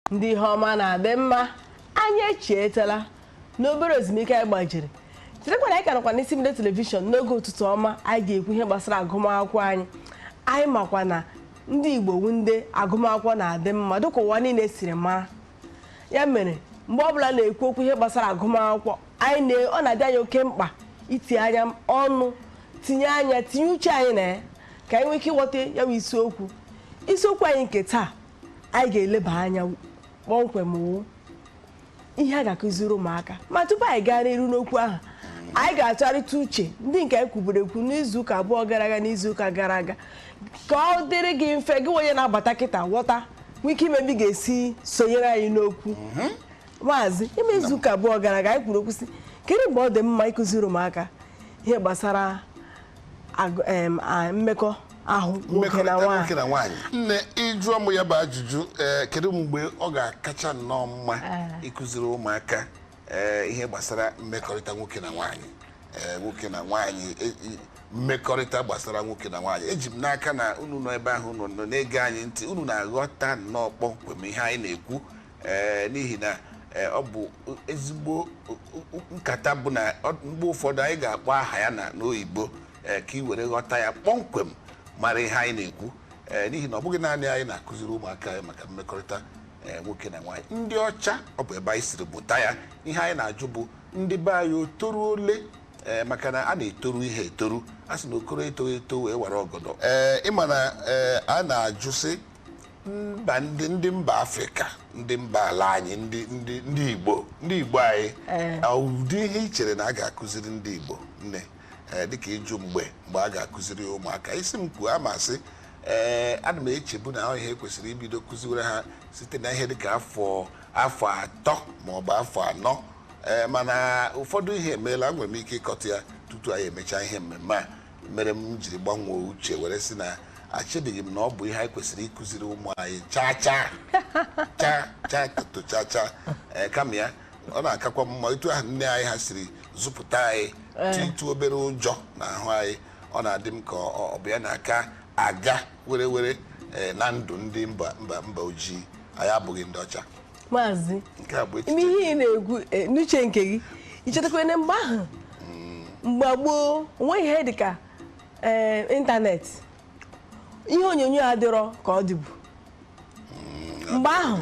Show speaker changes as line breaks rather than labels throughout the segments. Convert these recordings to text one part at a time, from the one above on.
ndị ihe ọma na-adị mma anyị echietela n'obere ezumike anyị gbajiri chetakwa na anyị ka nọkwa n'isi mbido telivishọn n'oge ụtụtụ ọma anyị ga-ekwu ihe gbasara agụmakwụkwọ anyị anyị makwa na ndị igbo wu ndị agụmakwụkwọ na-adị mma dịka ụwa niile siri mara ya mere mgbe ọbụla a na-ekwu okwu ihe gbasara agụmakwụkwọ anyị na ọ na-adị anyị oke mkpa itinye ọnụ tinye anya tinye uche anyị na ya ka anyị nwee ike ịghọta ya bụ isiokwu isiokwu anyị nke taa anyị ga-eleba anya kpọmkwem wụ ihe a ga-akụziri ụmụaka ma tupu anyị gaa n'iru n'okwu ahụ anyị ga-atụgharịta uche ndị nke anyị kwuburu ekwu n'izuụka abụọ gara aga n'izuụka gara aga ka ọ dịrị gị mfe gị onye na-abata kịta ghọta nwee ike ịma ebe ị ga-esi sonyere anyị n'okwu mhm. maazị ime izuụka abụọ gara aga anyị kwuru okwu sị kedu mgbe ọ dị mma ịkụziri ụmụaka ihe gbasara Agụ- em, a- mmekọ ahụ nwoke na mmekọrịta nwaanyị nwoke na nwaanyị nne ị
jụọ m ya bụ ajụjụ ee, kedu mgbe ọ ga-akacha nnọọ mma ịkụziri ụmụaka ee, ihe gbasara mmekọrịta nwoke na nwaanyị Ee, nwoke na nwaanyị e- i- mmekọrịta gbasara nwoke na nwaanyị eji m n'aka na unu nọ ebe ahụ unu nọ na-ege anyị ntị unu na-aghọta nnọọ kpọmkwem ihe anyị na-ekwu ee n'ihi na ee, ọ bụ ezigbo nkata bụ na ọ- mgbe ụfọdụ anyị ga-akpọ aha ya na n'oyibo ee, ka i were ghọta ya kpọmkwem mara ihe anyị na-ekwu ee, n'ihi na ọ bụghị naanị anyị na-akụziri ụmụaka anyị maka mmekọrịta ee, nwoke na nwaanyị ndị ọcha ọ bụ ebe anyị siri buta ya ihe anyị na-ajụ bụ ndị be anyị o toru ole ee, maka na a na-etoru ihe etoru a sị na okoro etoghị eto wee wara ọgọdọ ee ị ma na ee, a na-ajụ sị mba ndị ndị mba afrịka ndị mba ala anyị ndị ndị ndị igbo ndị igbo anyị Ee. ọ ụdị ihe i chere na a ga-akụziri ndị igbo nne ee, dịka ị jụ mgbe mgbe a ga-akụziri ụmụaka ị sị m kwuo ama sị ee ana m echebu na ọ ihe e kwesịrị ibido kụziwere ha site na ihe dịka afọ afọ atọ ma ọ bụ afọ anọ ee mana ụfọdụ ihe emeela nwere m ike ịkọtụ ya tutu anyị emechaa ihe mmemme a mere m jiri gbanwee uche were sị na echedịghị m na ọ bụ ihe anyị kwesịrị ịkụziri ụmụ anyị chaa chaa chaa chaa toto chaa chaa ee kama ya ọ na-akakwa mma etu ahụ nne anyị ha siri zụpụta anyị titụ obere ụjọ n'ahụ anyị ọ na-adị m ka ọ ọ bụ ya na-aka aga were were ee, na ndụ ndị mba mba mba ojii anyị abụghị ndị ọcha maazị
nke a bụ ime echiche ihe ị na-ekwu eh, n'uche nke gị i chetakwa na mgbe ahụ mgbe gboo onweghị ihe dị ka eh, ịntanetị ihe onyonyo adịrọ ka ọ dịbu mgbe ahụ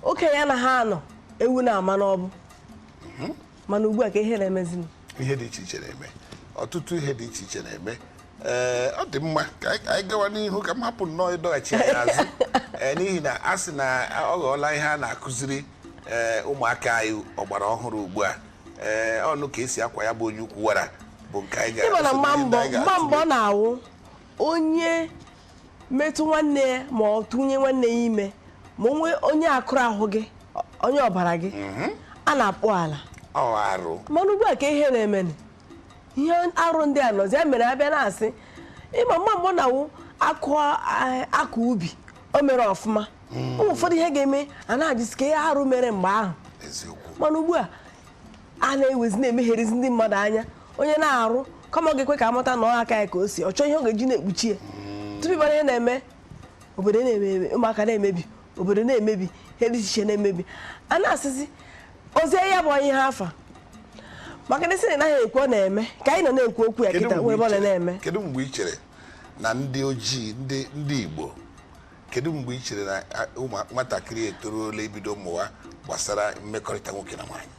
okenye anaghị anọ ewu na-amụ n'ọgbụ mana ugbu a ka ihe na-emezi ihe dị iche
iche na-eme ọtụtụ ihe dị iche iche na-eme ee ọ dị mma ka anyị gawa n'ihu ka m hapụ nnọọ ịdọghachi anyị azụ ee n'ihi na a sị na ọ ghọọla ihe a na-akụziri ee ụmụaka anyị ọgbara ọhụrụ ugbu a ee ọnụ ka e si akwa ya bụ onye ukwu wara bụ nke anyị ga-aga ị ma na mgbe mbụ mgbe
mbụ na-awụ onye metụ nwanne ya ma ọ tụnye nwanne ya ime ma onwe onye akụrụ ahụ gị onye ọbara gị mhm. a na-akpụ ala arụ mana ugbu a ka ihe na-eme ihe arụ ndị a nọzi ya mere a bịa na-asị ị ma mma mgbe na-awụ a kọọ ubi o mere ọfụma mhm. o nwee ụfọdụ ihe ga-eme a na-ajụzi ka ihe arụ mere mgbe ahụ mana ugbu a a na-ewezi na-emegherizi ndị mmadụ anya onye mee arụ kama ọ ga-ekwe ka a mata na ọ aka ya ka o si ọ chọọ ihe ọ ga-eji na-ekpuchi ya tupu ị mara ihe na-eme obodo na-emebi ụmụaka na-emebi obodo na-emebi ihe dị iche iche na-emebi a na-asịzi ozi ya bụ onye ha afa maka na a sị na a naghị ekwu ọ na-eme ka anyị nọ na-ekwu okwu ya Kedu kịta mgbe nwere ebe ọ i na chere- na-eme kedu mgbe i chere
na ndị ojii ndị ndị igbo kedu mgbe ị chere na a, ụmụ nwatakịrị etoruola ibido mụwa gbasara mmekọrịta nwoke na nwaanyị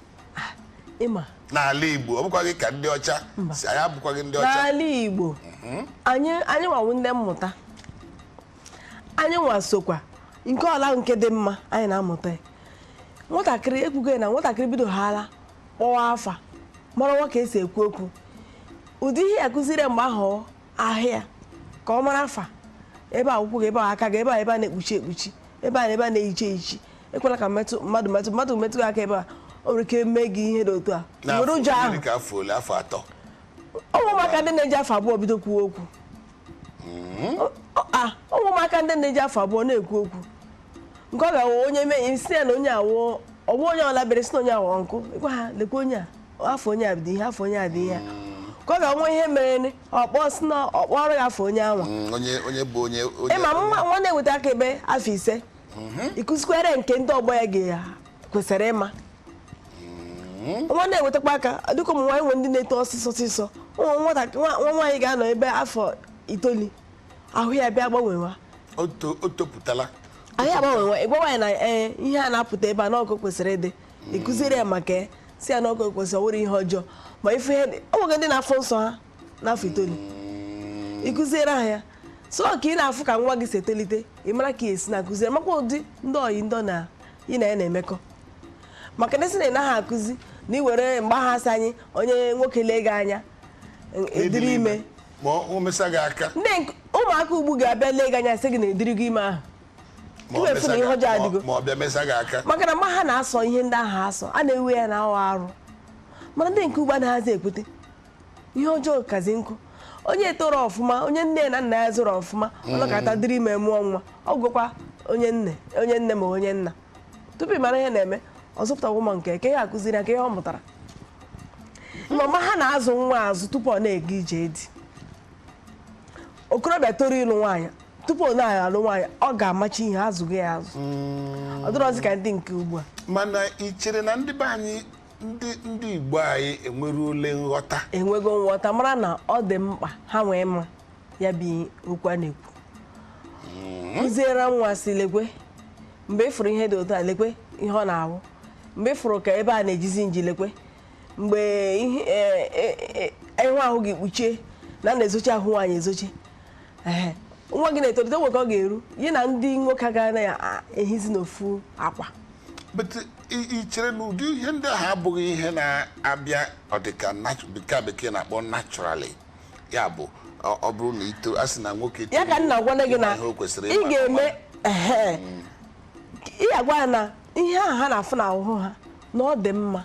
ị
ma n'ala igbo
ọ bụkwaghị ka ndị ọcha si anyị abụkwaghị ndị ọcha n'ala igbo
anyị anyị nwa wụ ndị mmụta anyị nwa sokwa nke ọla nke dị mma anyị na-amụta ya. nwatakịrị ekwugo ya na nwatakịrị bidohaala kpọwa afa mara nwa ka e si ekwu okwu ụdị ihe ị ya-akụziri ya mgbe ahụ ahụ ya ka ọ mara afa ebe a ụkwụ gị ebe a aka gị ebe a ebe a na-ekpuchi ekpuchi ebe a na ebe a na-ehicha ehichi ekwela ka mmadụ metụ mmadụ metụ gị aka ebe a o nwere ike mee gị ihe dị otu a were ụjọ ahụ ụmụ ụmụaka ndị na-eji afọ abụọ bido kwuo okwu hmm? ụmụ ụmụaka ndị na-eji afọ abụọ na-ekwu okwu nke ọ ga-awụ onye mee ị sị ya na onye a wụ uncle onye ọla bịa a sị na onye a wụ uncle ị gwa ha lekwa onye a afa onye a dị ihe afa onye a dị ihe ka ọ ga-enwe ihe mere ọ kpọọ sị na ọ kpọọrọ ya afa onye anwa mm, onye onye bụ onye onye ị ma nwa nwa na-enweta aka ebe afọ ise mhm. ị kụzikwere nke ndị ọgbọ ya ga-kwesịrị ịma mhm. nwa na-enwetakwa aka dịka ụmụ nwaanyị nwe ndị na-eto ọsịsọ ọsịsọ nwa nwaanyị ga-anọ ebe afọ itoolu ahụ ya bịa gbanwewa o
topụtala ahụ
ya agbanwewa ị gwa nwaanyị na eh, ihe a na-apụta ebe a na ọ ka o kwesịrị ịdị ị kụziere ya maka ya sị ya na ọ ka o kwesị ọ wụrọ ihe ọjọọ ma ife ihe dị o nweghị ndị na-afụ nsọ ha n'afọ itoolu ị kụziere ha ya so ka ị na-afụ ka nwa gị si etolite ị mara ka i si na-akụziere makwa ụdị ndị oyi ndị na ị na ya na-emekọ maka na a sị na a naghị akụzi na e nwere mgbe a ga-asị anyị onye nwoke lee gị anya ị dịrị ime ma o mesa
gị aka ndị nk- ụmụaka
ugbu a ga-abịa lee gị anya sị gị na ị dịrị ime ahụ
maka na ma ha
na-asọ ihe ndị ahụ asọ a na-ewe ya na ọ wụ arụ mana ndị nke ugbu a anaghịzi ekwute ihe ọjọọ kazi nkụ onye toro ọfụma onye nne na nna ya zụrụ ọfụma mm. ọ nọkata dịrị ime mụọ nwa ọ gụkwa onye nne onye nne ma onye nna tupu ị mara ihe na-eme ọ zụpụta ụmụ nke ke ya akụziri ya ka ihe ọ mụtara mama ha na-azụ nwa azụ tupu ọ na-aga ije di okorobịa toro ịlụ nwaanyị tupu ọ na-aga alụ nwaanyị ọ ga-amacha ihe a zụgo ya azụ mm. ọ dịrọzi ka ndị nke ugbu a mana ị chere
na ndị be anyị ndị ndị Igbo anyị enweruole nghọta enwego nghọta
mara na ọ dị mkpa ha nwee mma ya bụ okwu a na-ekwu mm. kụziere nwa sị lekwe mgbe ị fụrụ ihe dị otu a lekwe ihe ọ na-awụ mgbe ị fụrụ ka ebe a na-ejizi nji lekwe mgbe ihe- e- e- e- ị hụ ahụ gị kpuchie na a na-ezochi ahụ nwaanyị ezochi Ehe. nwa gị na-etolite nwe ka ọ ga-eru ya na ndị nwoke agaghị na-ehizi n'ofu akwa but i-
i chere na ụdị ihe ndị ahụ abụghị ihe na-abịa ọdịka natu- dịka bekee na-akpọ naturally ya bụ ọ ọ bụrụ na ito a sị na nwoke ya ka nna gwana gị
na ihe o kwesịrị ị ịma ga-eme ehe. ị ga-agwa ya na ihe ahụ ha na-afụ n'ahụ ha na ọ dị mma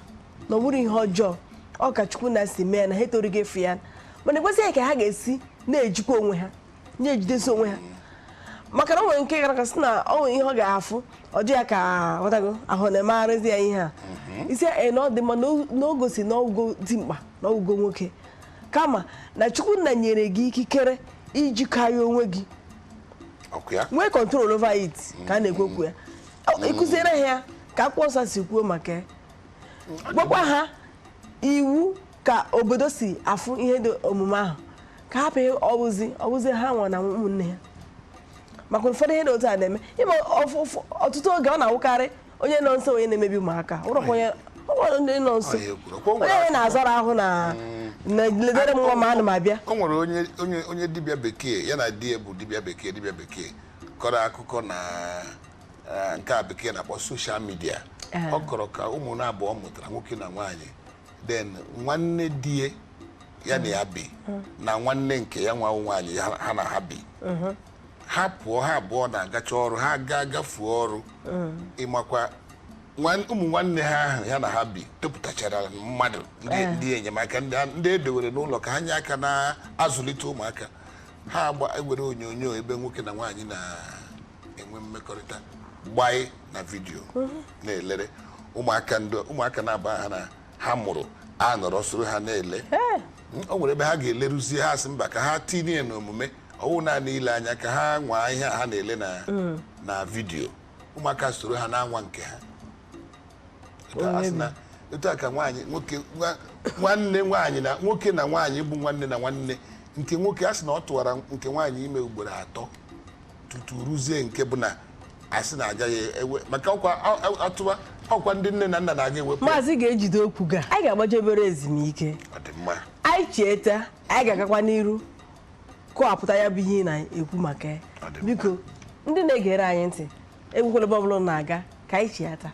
na ọ bụrọ ihe ọjọọ ọ ka chukwu nna si mee na ha etorugo ịfụ ya mana ekwesịghị ka ha ga-esi na-ejikwa onwe ha na-ejidesi onwe ha maka na o nwere nke gara aga sị na ọ nwere ihe ọ ga-afụ ọ dị ya ka ghọtago ahụ na-emegharịzi ya ihe a ị sị ya na ọ dị mma na o- na o gosi na ọ wụgo dimkpa na ọ wụgo nwoke kama na chukwu nna nyere gị ikikere iji karịa onwe gị ọ wụ ya nwee control over it ka a na-ekwu okwu ya Ọ- ịkụziere ha ya ka akwụkwọ nsọ si kwuo maka ya gwakwa ha iwu ka obodo si afụ ihe dị omume ahụ ka hapụ ihe ọ wụzi ọ wụzi ha nwa na ụmụnne ha maka ụfọdụ ihe dị otu a na-eme ị ma ọfụ- ụfụ- ọtụtụ oge ọ na-awụkarị onye nọ nso onye na-emebi ụmụaka awụrọkwa onye ọ nwere ndị nọ nso Ọ ya ekwuru. Kwa o nwere onye onye na-azọrọ ahụ na na ledere m nwa ma ana m abịa o nwere onye onye
onye dibịa bekee ya na di ya bụ dibịa bekee dibịa bekee kọrọ akụkọ na eh, nke a bekee na-akpọ soshal midia Eh. ọ kọrọ ka ụmụ na abụọ mụtara nwoke na nwaanyị then nwanne di ya ya na ya bi na nwanne nke ya nwa nwaanyị ya- ha na ha bi ha pụọ ha abụọ na-agacha ọrụ ha gaa gafuo ọrụ ị makwa nwan- ụmụ nwanne ha ahụ ya na ha bi topụtachara mmadụ ndị ndị enyemaka ndị a- ndị e dowere n'ụlọ ka ha nye aka na-azụlite ụmụaka ha aga ewere onyonyo ebe nwoke na nwaanyị na enwe mmekọrịta gbanye na vidiyo na-elere ụmụaka ndị ụmụaka na-aba ha na ha mụrụ anọrọ soro ha na-ele o nwere ebe ha ga-eleruzie ha sị mba ka ha tinye n'omume ọ wụ naanị ile anya ka ha nwaa ihe a ha na-ele na na vidiyo ụmụaka soro ha na-anwa nke ha Etu a sị na- etu a ka nwaanyị nwoke nwa- nwanne nwaanyị na nwoke na nwaanyị bụ nwanne na nwanne nke nwoke a sị na ọ tụwara nke nwaanyị ime ugboro atọ tutu ruzie nke bụ na a sị na agaghị ewe maka ọkwa a- a- atụwa ọkwa ndị nne na nna na-aga ewepụ ya. maazị ga-ejide okwu
gị a anyị ga-agbaje obere ezumike ọ dị mma anyị chiata anyị ga-agakwa n'iru kọwapụta ya bụ ihe ị na-ekwu maka ya Ọ dị mma. biko ndị na-egere anyị ntị enwekwala ebe ọbụla unu na-aga ka anyị chiata